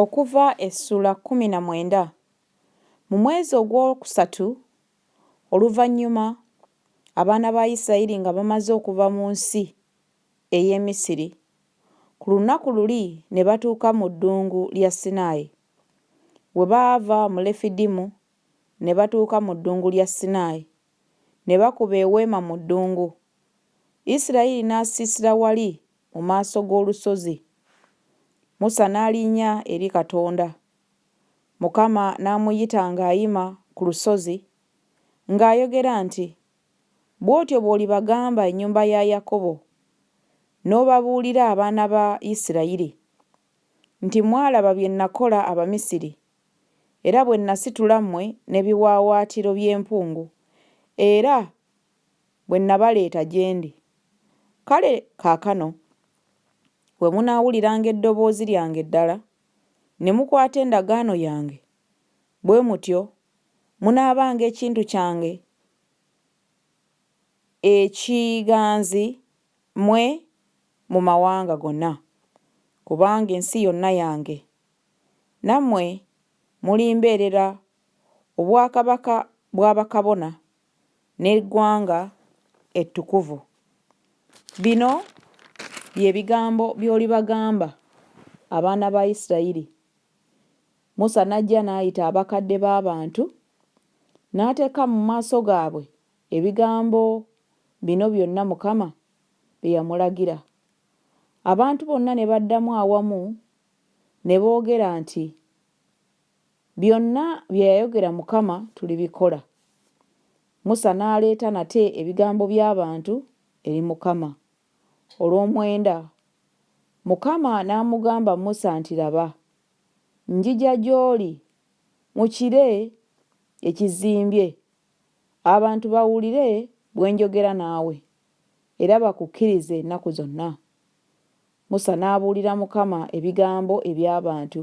Okuva essula kkumi na mwenda Mu mwezi ogw'okusatu oluvannyuma abaana ba Isirayiri nga bamaze okuva mu nsi ey'e Misiri, ku lunaku luli ne batuuka mu ddungu lya Sinaayi. Bwe baava mu Lefidimu ne batuuka mu ddungu lya Sinaayi, ne bakuba eweema mu ddungu. Isirayiri n'asiisira wali mu maaso g'olusozi, Musa n'alinnya eri Katonda, Mukama n'amuyita ng'ayima ku lusozi, ng'ayogera nti, Bw'otyo bw'olibagamba ennyumba ya Yakobo, n'obabuulira abaana ba Isirayiri, nti Mwalaba bye nakola Abamisiri, era bwe nasitula mmwe n'ebiwaawaatiro by'empungu, era bwe nnabaleeta gye ndi. Kale kaakano bwe munaawuliranga eddoboozi lyange ddala, ne mukwata endagaano yange, bwe mutyo munaabanga ekintu kyange ekiganzi mmwe mu mawanga gonna, kubanga ensi yonna yange. Nammwe mulimbeerera obwakabaka bwa bakabona. n'eggwanga ettukuvu. Bino bye bigambo by'olibagamba abaana ba Isirayiri. Musa n'ajja n'ayita abakadde b'abantu, n'ateeka mu maaso gaabwe ebigambo bino byonna Mukama bye yamulagira. Abantu bonna ne baddamu awamu ne boogera nti. Byonna bye yayogera Mukama tulibikola. Musa n'aleeta nate ebigambo by'abantu eri Mukama, olw'omwenda. Mukama n'amugamba Musa nti, Laba, njija gy'oli mu kire ekizimbye, abantu bawulire bwe njogera naawe, era bakukkirize ennaku zonna. Musa n'abuulira Mukama ebigambo eby'abantu.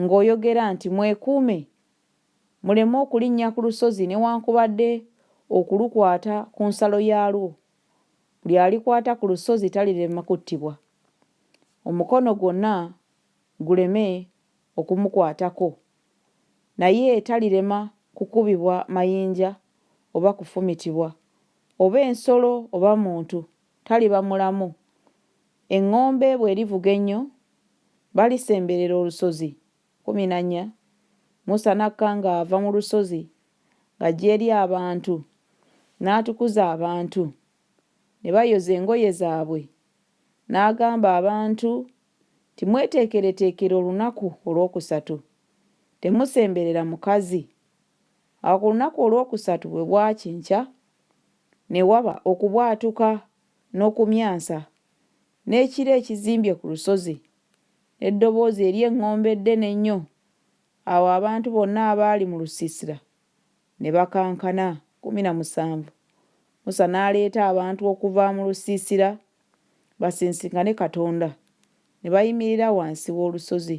ng'oyogera nti, Mwekuume, muleme okulinnya ku lusozi newankubadde okulukwata ku nsalo yaalwo, buli alikwata ku lusozi talirema kuttibwa, omukono gwonna guleme okumukwatako, naye talirema kukubibwa mayinja oba kufumitibwa, oba ensolo oba muntu taliba mulamu, Eŋŋombe bw'erivuga ennyo, balisemberera olusozi. Kkumi na nnya, Musa n'akka ng'ava mu lusozi ng'ajja eri abantu, n'atukuza abantu, ne bayoza engoye zaabwe, n'agamba abantu nti, Mweteekereteekere olunaku olwokusatu, temusemberera mukazi. Awo ku lunaku olwokusatu bwe bwakya enkya, ne waba okubwatuka n'okumyansa, n'ekire ekizimbye ku lusozi, n'eddoboozi ery'eŋŋombe eddene ennyo, awo abantu bonna abaali mu lusiisira ne bakankana. Kkumi na musanvu, Musa n'aleeta abantu okuva mu lusiisira basisinkane Katonda, ne bayimirira wansi w'olusozi.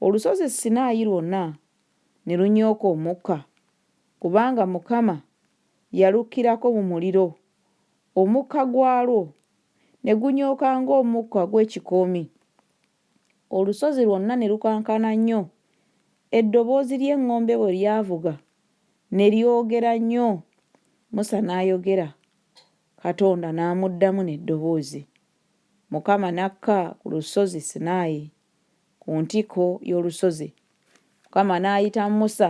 Olusozi Sinaayi lwonna ne lunyooka omukka, kubanga Mukama yalukkirako mu muliro, omukka gwalwo ne gunyooka ng'omukka gw'ekikoomi, olusozi lwonna ne lukankana nnyo, eddoboozi ly'eŋŋombe bwe lyavuga ne lyogera nnyo, Musa n'ayogera, Katonda n'amuddamu n'eddoboozi. Mukama n'akka ku lusozi Sinaayi, ku ntikko y'olusozi. Mukama n'ayita Musa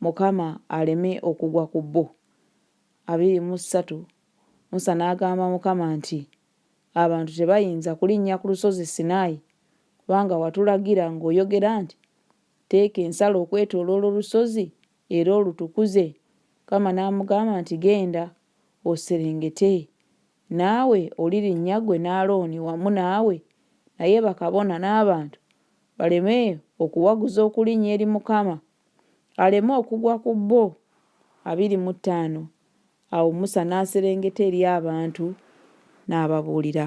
Mukama aleme okugwa ku bo. Abiri mu ssatu, Musa n'agamba Mukama nti, Abantu tebayinza kulinnya ku lusozi Sinaayi, kubanga watulagira ng'oyogera nti, Teeka ensalo okwetooloola olusozi era olutukuze. Mukama n'amugamba nti, Genda, oserengete. Naawe olirinnya ggwe ne Alooni wamu naawe, naye bakabona n'abantu baleme okuwaguza okulinnya eri Mukama aleme okugwa ku bo. Abiri mu ttaano Awo Musa n'aserengeta eri abantu n'ababuulira.